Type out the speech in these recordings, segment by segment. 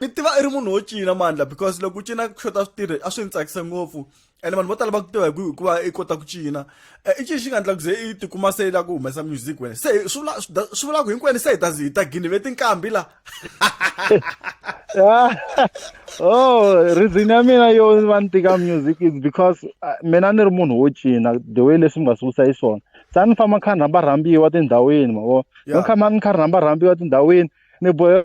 ni tiva i ri munhu wo cina mandla because loko u cina ku xota switirhi a swi ni tsakisa ngopfu ene vanhu vo tala va ku tiva hi ku hikuva i kota ku cina eh, i cini xi nga endla ku ze i tikuma se i la ku humesa music wena se swi vula swi vula ku hinkwenu se hi ta hi ta gini ve tinkambi la oh reason ya mina yo va ni tika music is because ah, mina ni ri munhu wo cina the way leswi mi nga swi vutisa hi swona sa ni famba ni kha ni rhamba rhambiwa tindhawini mavo ni kha ni kha ni rhamba rhambiwa tindhawini ni bohe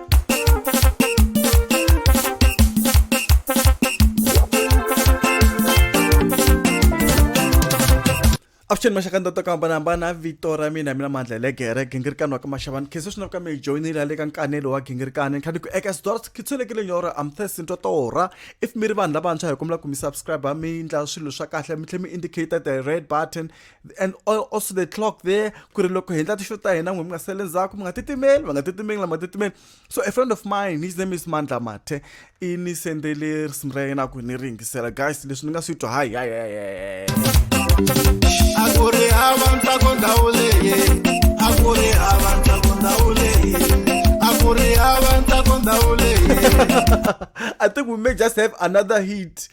avuxeni maxaka ni ta to ku hambanahambana vito ra mina mina mandla hi le gere gingirikani wa ka maxavani khenso swi na ku ka mi joyinile ya le ka nkanelo wa gingirikani ni kha ni ku eka sidora ki tsholekile nyoro amthesi nto torha if mi ri vanhu lavantshwa hi kombela ku mi subscribe mi endla swilo swa kahle mi tlhela mi indicate the red button and also the clock there ku ri loko hi endla tixo ta hina n'we mi nga sele ndzhaku mi nga titimeli va nga titimeli lama titimeli so a friend of mine his name is mandla mathe i ni sendele risimu ra yena ku ni ri yingisela guys leswi ni nga swi twa hayi hayi hayi a ku ri hava ntsako ndhawu leyi a ku ri hava ntsako ndhawu leyi a ku ri hava ntsako ndhawu leyi i think we may just have another hit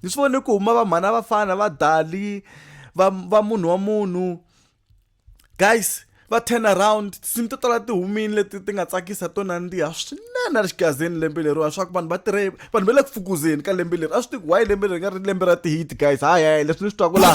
ni swi vone ku huma vamhana vafana va dali va va munhu wa munhu guys va turn around tinsimu to tala ti humile leti ti nga tsakisa to nandziha swinene ri xigazeni lembe leriwa swa ku vanhu va tirhe vanhu va le ku fukuzeni ka lembe leri a swi tiku why lembe leri nga ri lembe ra tihiti guys hayi hayi leswi ni swi twaku laha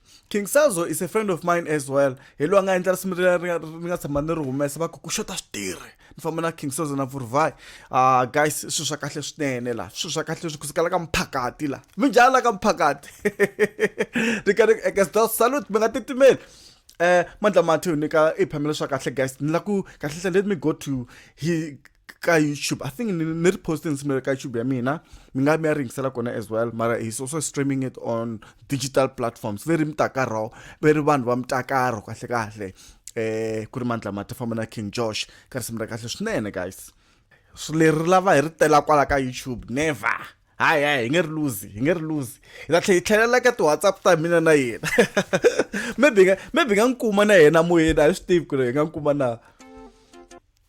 King Sazo is a friend of mine as well. Hi lo nga endla risimu leri ni nga tshama ni ri humesa va ku ku xota switirhi. Ni famba na King Sazo na Vurvai. Ah guys swilo swa kahle swinene la. Swilo swa kahle swi kusukela ka mphakati la. Mi njhala ka mphakati. Ni ka ni eka salute mi nga titimeli. Eh mandla mathu ni ka i phamela swa kahle guys. Ni la ku kahle kahle let me go to he ka youtube i think ni ri post nsimelo ka youtube ya mina mi nga mi ya ringisela kona as well mara he's also streaming it on digital platforms leri mitakaro ve ri vanhu va mitakaro kahle kahle eh ku ri mandla mati famba na king josh ka risimu ra kahle swinene guys leri lava hi ri tela kwala ka youtube never hayi hayi hi nge ri luzi hi nge ri luzi hi ta tlhe hi tlhelela ka ti-whatsapp ta mina na yena maybe nga maybe nga n'wi kuma na yena moyeni a hi swi tivi ku ri hi nga n'wi kuma na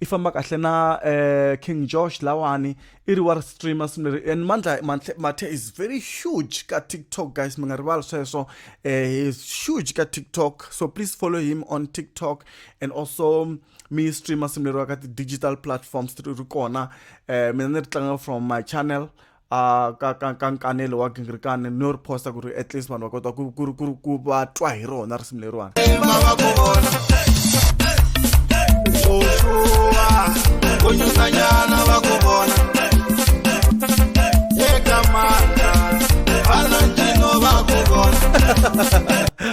i famba kahle na uh, king josh lawani i ri wa ri streamer swinene leri and mandla mathe is very huge ka tiktok guys mi nga rivali sweswo eh, he is huge ka tiktok so please follow him on tiktok and also mi streamer swinene leri wa ka ti-digital platforms ri ri kona um mina ni ri tlanga from my channel a ka ka ka nkanelo wa gingirikani ni yo ri posta ku ri at least vanhu va kota ku ku ku ku va twa hi rona risimu leriwani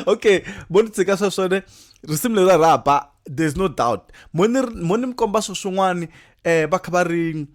okay bo ni tshika swa swone risimu leri ra ba there's no doubt mo ni mo ni mi komba swo swin'wani um va kha va ri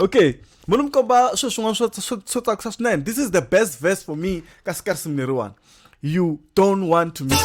okay muni mi komba swilo swin'wana swo swo tsakisa swinene this is the best verse for me ka sikarisimu leriwani you don't want to miss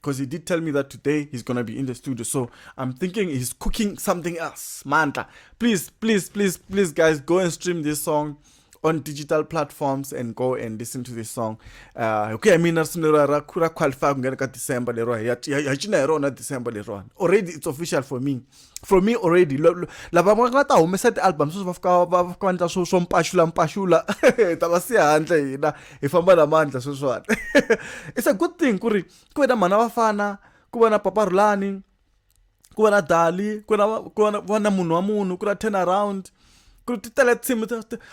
because he did tell me that today he's gonna be in the studio so i'm thinking he's cooking something else manta please please please please guys go and stream this song on digital platforms and go and listen to this song uh, hi ku ya mina risimu lero ra ra qualify ku nghena ka december lero hi cina hi rona december lerona already it's official for me from me already lava va nga ta humesa ti-album sweswi va fika va fika va ndla swo swo mpaxula mpaxula ta va siya handle hina hi famba na mandla sweswiwani it's a good thing ku ri ku ve na mhana vafana ku va na papa rhulani ku va na dali ku na ku va na munhu wa munhu ku na turn around ku ti tele tinsimu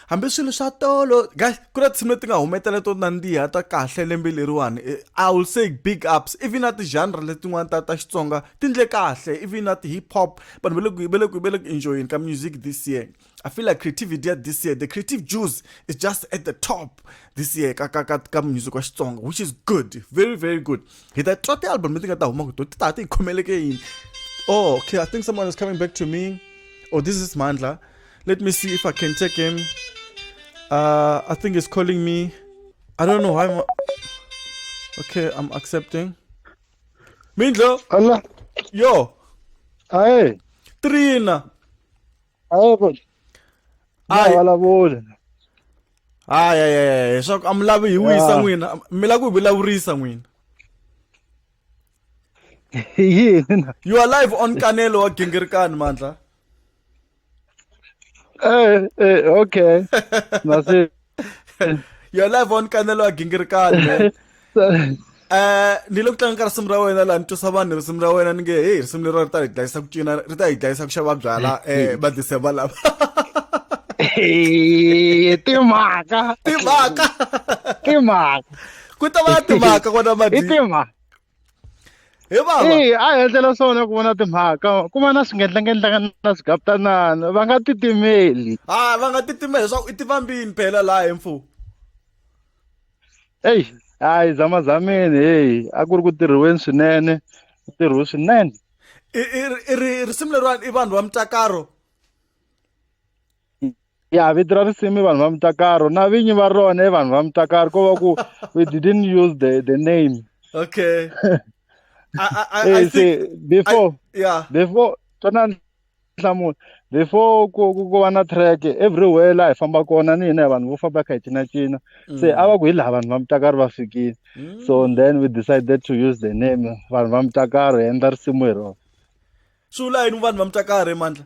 hambi swilo swa tolo guys ku na tinsimu leti nga humetela to nandziha ta kahle lembe leriwani eh, i will say big ups even na ti-genre letin'wana ta ta xitsonga ti ndle kahle even na ti-hip hop vanhu va le ku va le ku va le ku enjoyeni ka music this year i feel like creativity ya this year the creative juice is just at the top this year ka ka ka ka music wa xitsonga which is good very very good hi ta twa ti-album leti nga ta huma kuto ti ta ti hi khomeleke yini oh okay i think someone is coming back to me oh this is mandla let me see if i can take him uh, i think he's calling me i don't know why I'm... okay i'm accepting mindlo Allah. yo hi trina a va vulavuli a vulavuli hayi hayi hayi leswaku a mi lavi hi wisa n'wina mi lava ku hi vulavurisa n'wina yini na you are live on kanelo wa gingirikani mandla eh eh okay your live on kanelo wa gingirikani man eh ni lo kutlanga ka risimu ra wena la ni twisa vanhu risimu ra wena ni nge hey risimu lero ri ta hi dlayisa ku cina ri ta hi dlayisa ku xava byala eh va December lava timhaka timhaka timhaka ku ta va na timhaka kona madi timhaka hi vava eyi a hi endlela swona ku vona timhaka ku va na swingendlangendlaka na swigaputanana va nga titimeli a ah, va nga titimeli leswaku i tivambini phela laha hi mfumo eyi hayi zamazameni heyi a ku ri ku tirhiweni swinene ku tirhiwe swinene risimu leriwani i vanhu va mutakaro ya vito ra risimu vanhu va mutakaro na vinyi va rona i vanhu va mutakaro ko va ku we didn't use the the name okay I, I, I, I think, before I, yeah before twana nhlamulo before ku ku va na track everywhere laha hi famba kona ni hina hi vanhu vo famba kha hi cinacina se mm. a va ku hi laha vanhu va mutakaro va fikile so mm. then we decided to use the name vanhu va mutakaro hi endla risimu hi rona swi vula yini vanhu va mutakaro emandla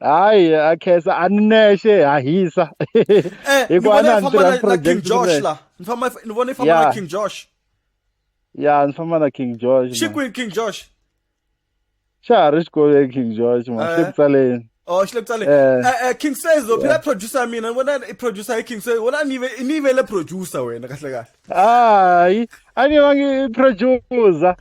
hayi a khensa a ni nexe ha hisa eh, hikuva na ni tirha project josh la ni famba ni vona i famba na king josh ya ni famba na king josh xi kwini king josh xa ha ri xikolweni king josh ma xi le eh. ku tsaleni o oh, xi le ku tsaleni eh. eh, eh king says lo phela producer ya mina ni vona i producer hi king says wona ni ni yivele producer wena kahle kahle hayi a ni vangi producer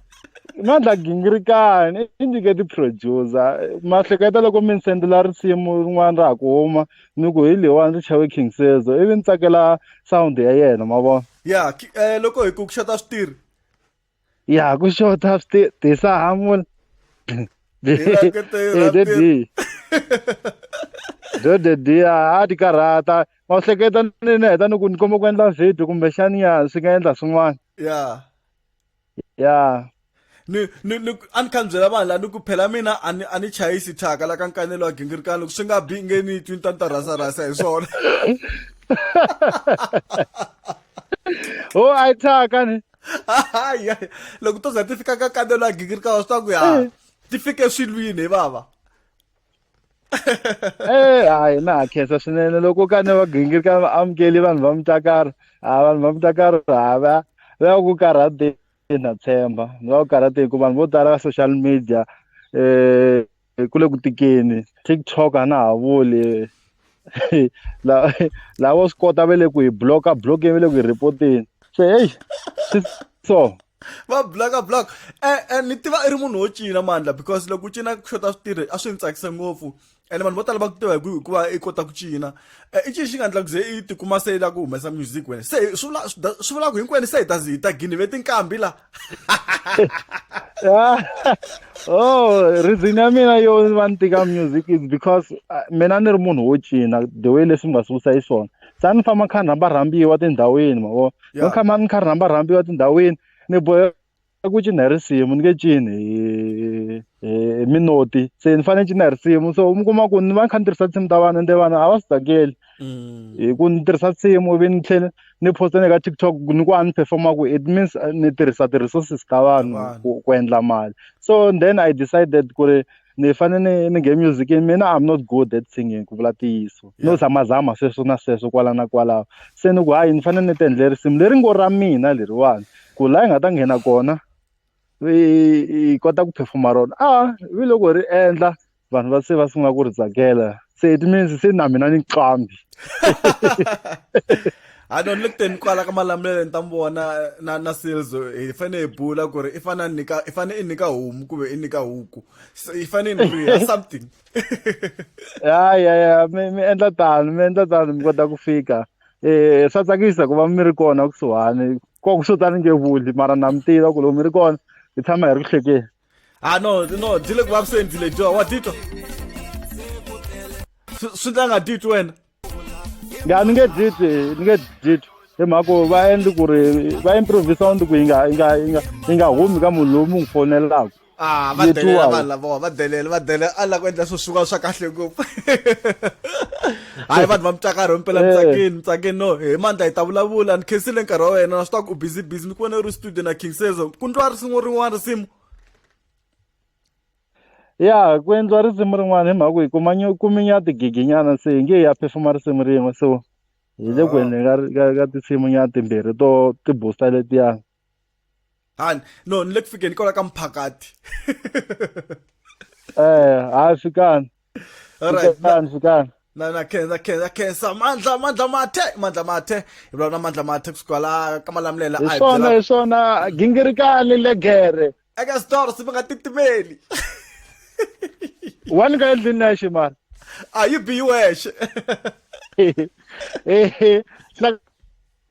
mandla gingirikani i nyike ti-producer ma hleketa loko mi ni sendela risimu rin'wana ra ha ku huma ni ku hi leyiwani ri chawe king sezo ivi ni tsakela sound ya yena ma vona ya eh, loko hi ku ku xota switirhi Ya ku show taps ti ti sa hamul. Ti la ke te ra De ti. di. Do de di a ti karhata. Ma u hleketa ni ni heta ni ku ni komba ku endla video kumbe xani ya swi nga endla swin'wana. Ya. Ya. Ni ni ni a ni kha ni byela vanhu la ni ku phela mina a ni a ni chayisi thyaka la ka nkanelo wa gingirikani loko swi nga bi nge ni twi ni ta ni ta rhasa rhasa hi swona. Oh, I thyaka ni. hayi loko to za ti fika ka kambelo ya gingirika wa swi twa ku ya eh. ti fike swilwini hi vava eh hayi na ha khensa swinene loko ka ne va gingirika va amukeli vanhu va mutakaro a vanhu va mutakaro ha va va ku karhateni na tshemba va ku karhateni ku vanhu vo tala va social media eh hi kule ku tikeni TikTok a na ha vuli la la wo swi kota vele ku hi bloka blokeni vele ku hi reporteni se heyi so va blaka blaka e, e, ni tiva i ri munhu wo cina mandla because loko u cina ku xota switirhi a swi ni tsakisa ngopfu ene vanhu vo tala va ku tiva hikuva i kota ku cina e, i cini xi nga ndla ku ze i tikuma se i la ku humesa music wena se swi vulaka hinkwenu se hi ta hi ta gini ve tinkambi laha Ah, oh reason ya mina yo va ni tika music is because ah, mina ni ri munhu wo cina the way leswi mi nga sungulisa hi swona sa ni famba kha ni rhamba rhambiwa tindhawini ma vo ni kha ma ni kha ni rhamba rhambiwa tindhawini ni bohe ku cina hi risimu ni nge cini hi hi minoti se ni fanele ni cina hi risimu so mi kuma ku ni va ni kha ni tirhisa tinsimu ta vana ende vana a va swi tsakeli Mm. hi ku ni tirhisa nsimu ivi ni tlhela ni posta ni ka tiktok ni ku a ni performa ku it means uh, ni tirhisa ti-resources ta vanhu Vanhu. ku, ku endla mali so then i decided ku ri ni fanele ni ni nge music mina i'm not good at singing ku vula tiyiso no Yeah. zamazama sweswo na sweswo kwala na kwalaho se ni ku hayi ni fanele ni ti endle risimu leri ngo ra mina leriwani ku laha yi nga ta nghena kona yi yi kota ku performa rona a vi loko ri endla vanhu va se va sungula ku ri tsakela se it means se na mina ni qambi ha no ni le kuteni kwala ka malamulelo ni ta mi vona na na silzo hi fane hi bula ku ri i fane ni nyika i fane i nyika homu kumbe i nyika huku i fane ni riha something ya ya ya mi mi endla tano mi endla tano mi kota ku fika eh swa tsakisa ku va mi ri kona kusuhani ko ku swo tani nge vuli mara na mi tiva ku loko mi ri kona hi tshama hi ri ku hlekeni ah no no dzile ku vavisendile dyo wa titwa swi ta nga titwi wena ya ni nge titwi ni nge titwi hi mhaka ku va endli ku ri va improvisa undi ku yi nga yi nga yi nga yi nga humi ka munhu lowu mu n'wi fonelaka ah va delela vanhu lavowa va delela va delela a la ku endla swo swiwa swa kahle ngopfu hayi vanhu va mutsakari himpela mutsakeni eh. mutsakeni no hi mandla hi ta vulavula ni khensile nkarhi wa wena na swi taku u busy busy mi ku vona u ri studio na king sezo ku ndliwa risimu rin'wana risimu ya ku endliwa risimu rin'wana hi mhaka ku hi kuma kuminya tigiginyana se hi nge ya phefuma risimu rin'we so hi le ku ah. endleni ka tinsimunyana timbirhi to ti-booster letiyani han no ni le ku fikeni kwala ka mphakati eh hayi fikani alright fikani fikani na na khensa khensa khensa mandla mandla mathe mandla mathe hi lona mandla mathe kusuka la ka malamulela a hi swona hi swona gingirikani legere eka store si nga titimeli wani ka endlini na xi mara a yi biyiwexe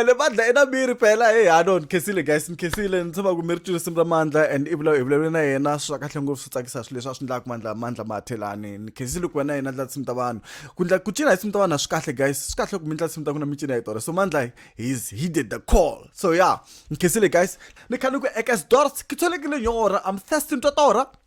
ene bandla ena mi ri phela heyi hano ni khesile guys ni khesile ni tshama ku mi ri twi risimu ra mandla and i vula hi vulavule na yena swa kahle ngopfu swi tsakisa swilo leswi a swi endlaka mandla mandla mathelani ni khesile ku va na yena ndla tsimi ta vanhu ku ndla ku cina hi tsimi ta vanhu a swi kahle guys swi kahle ku mi ndla tsimi ta ku na mi cina hi tona so mandla he's he did the call so yeah ni khesile guys ni khani ku eka sdors ke tsholekile nyora i'm thirsty ni twa tora